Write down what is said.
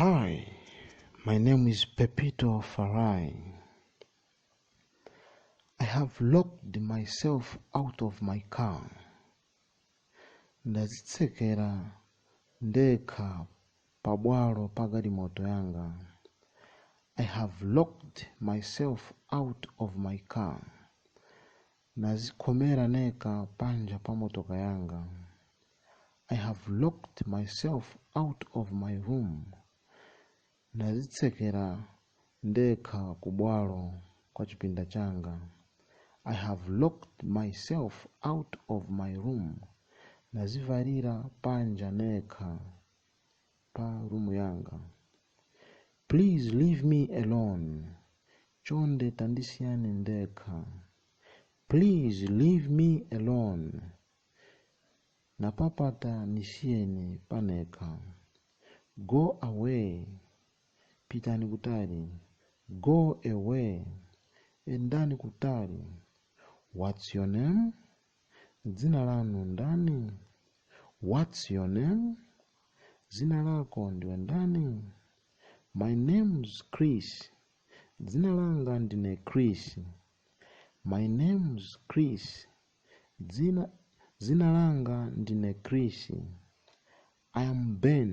Hi, my name is Pepito Farai. I have locked myself out of my car. Ndazitsekera ndekha pabwalo pa galimoto yanga. I have locked myself out of my car. Nazikhomera neka panja pa motoka yanga I have locked myself out of my room. Nazitsekera ndekha ku bwalo kwa chipinda changa I have locked myself out of my room. Nazivalira panja nekha. pa room yanga please leave me alone chonde tandisiyani ndekha please leave me alone napapata nisiyeni panekha go away pitani kutali go away endani kutali what's your name Dzina lanu ndani? What's your name? Dzina lako ndiwe ndani? My name's Chris. Dzina langa ndine Chris. My name's Chris. Dzina, dzina langa ndine Chris. I am Ben.